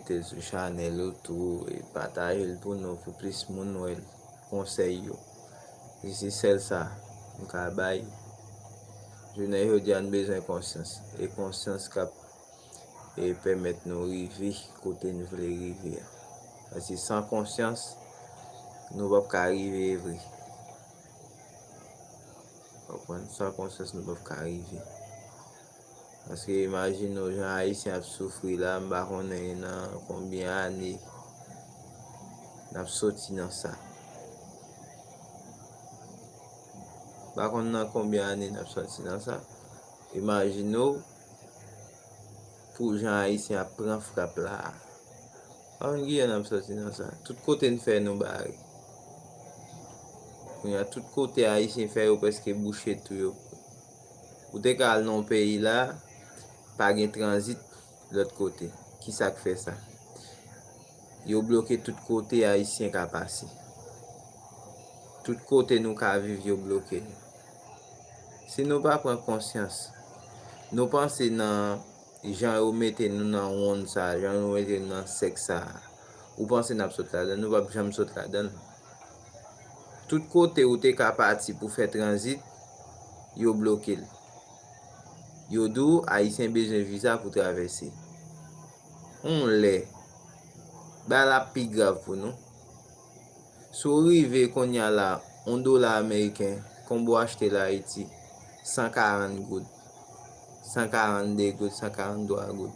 Mete sou chanel ou tou e patajel pou nou pou plis moun wèl konsèy yo si se sèl sa nou ka bay jounen jodia nou bezwen konsyans e konsyans kap e pèmèt nou rive kote nou vle rive a pase san konsyans nou pap ka rive vre san konsyans nou pap ka rive. Paske imajine w jan Ayisyen ap soufri la, m pa konnen nan konbyen ane n ap soti nan sa. M pa konnen nan konbyen ane n ap soti nan sa. Imajine w pou jan Ayisyen ap pran frap la a. M pa konnen ki jan n ap soti nan sa. Tout kote n fè nou bare. Kounye a tout kote Ayisyen fè yo prèske bouche tou yo. Ou te ka al nan yon peyi la, pa gen tranzit lòt kote. Ki sa k fè sa? Yo bloke tout kote Ayisyen ka pase. Tout kote nou ka viv yo bloke l. Si nou pa pran konsyans, nou panse nan jan yo mete nou nan wonn sa a, jan yo mete nou nan sèk sa a, ou panse n ap sot ladan l? Nou p ap janm sot ladan l. Tout kote ou te ka pati pou fè tranzit, yo bloke l. Yo di w Ayisyen bezwen viza pou travèse. On lè, bagay la ap pi grav pou nou. Si w rive konnya la, on dola ameriken konbe w achte l Ayiti, 140 goud, 142 goud, 143 goud.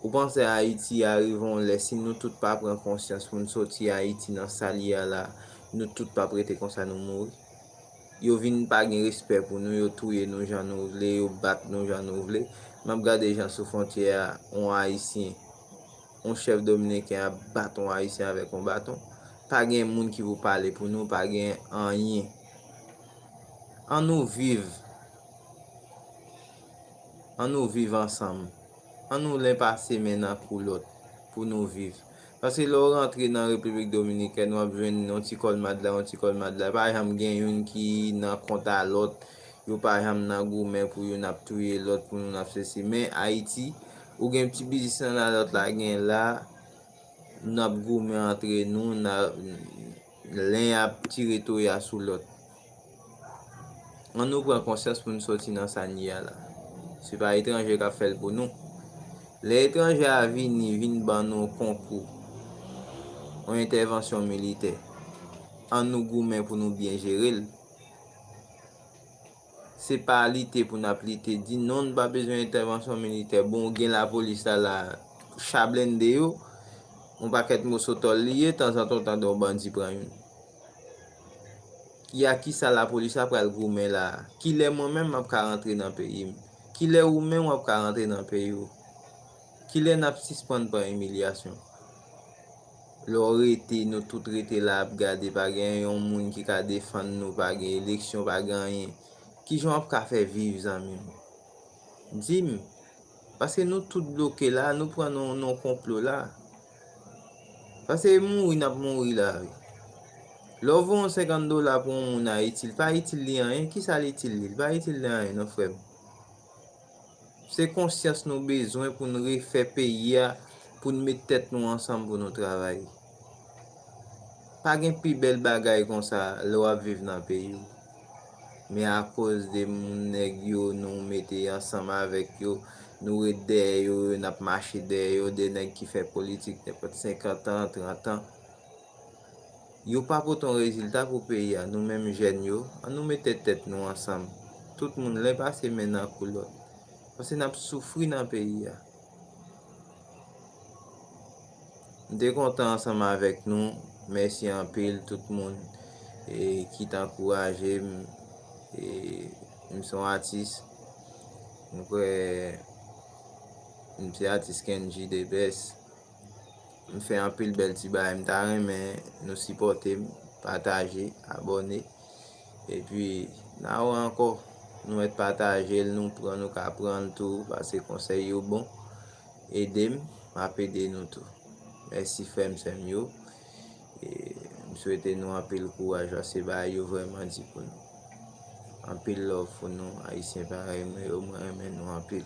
Ou panse Ayiti a rive yon lè si nou tout pa pran konsyans pou n soti Ayiti nan sa l ye a la, nou tout p ap rete konsa nou mouri? Yo vin pa gen respè pou nou, yo touye nou jan nou vle, yo bat nou jan nou vle. M ap gade jan sou fontyè a yon Ayisyen, yon chèf dominiken ap bat yon Ayisyen avèk yon baton. Pa gen moun ki pou pale pou nou, pa gen anyen. An nou viv, an nou viv ansanm. An nou len pase men nan kou lòt pou nou viv. Paske lè w rantre nan Repiblik Dominikèn w ap jwenn yon ti kòlmad la, yon ti kòlmad la. Pa janm gen youn ki nan kont a lòt. Yo pa janm nan goumen pou youn ap touye lòt, pou youn ap sesi. Men Ayiti, ou gen ti biznis nan la, lòt la gen la. N ap goumen antre nou, len ap tire toya sou lòt. An nou pran konsyans pou n soti nan sa n ye a la. Se pa etranje k ap fè l pou nou. Lè etranje a vini vin ban nou yon konkou, yon entèvansyon militè, an nou goumen pou nou byen jere l. Se pa lite pou n ap lite di non nou pa bezwen entèvansyon militè, bon gen lapolis la la, cha blende yo, yon pakèt moso tòl li ye, tanzantan w tande yon bandi pran youn. Ki ak ki sa lapolis la pral goumen la a? Ki lè mwen menm m ap ka rantre nan peyi m? Ki lè ou menm w ap ka rantre nan peyi w? Ki lè n ap sispann pran imilyasyon? Lè w rete, nou tout rete la ap gade, pa gen yon moun ki ka defann nou, pa gen eleksyon, pa gen anyen. Ki jan w ap ka fè viv zanmi m? Di m! Paske nou tout bloke la a, nou pran nan yon konplo la a. Pase mouri nap mouri la wi. Lè w vo yon 50 dola pou yon moun Ayiti, li pa itil li anyen, ki sa l itil li? Li pa itil li anyen non frè m. Se konsyans nou bezwen pou nou refè peyi a, pou nou met tèt nou ansanm pou nou travay. Pa gen pi bèl bagay konsa lè w ap viv nan peyi w. Men akoz de moun nèg yo nou mete ansanm avèk yo, nou ret dèyè yo, n ap mache dèyè yo, de nèg ki fè politik nenpòt senkantan, trantan. Yo pa pote yon rezilta pou peyi a. Nou menm jèn yo, an nou mete tèt nou ansanm. Tout moun len pase men nan kou lòt. Pase n ap soufri nan peyi a. M te kontan ansanm avèk nou. Mèsi anpil tout moun e ki t ankouraje m. E m se yon atis. M kwè m se atis Kendjy the best. M fè anpil bèl ti bagay m ta renmen nou sipòte m pataje abòne epi na wè ankò nou mèt pataje l nou pran nou ka pran l tou pase konsèy yo bon ede m m ap ede nou tou mèsi frè m sè m yo e m swete nou anpil kouraj pase bagay yo vrèman di pou nou anpil love pou nou ayisyen parèy mwen yo mwen renmen nou anpil.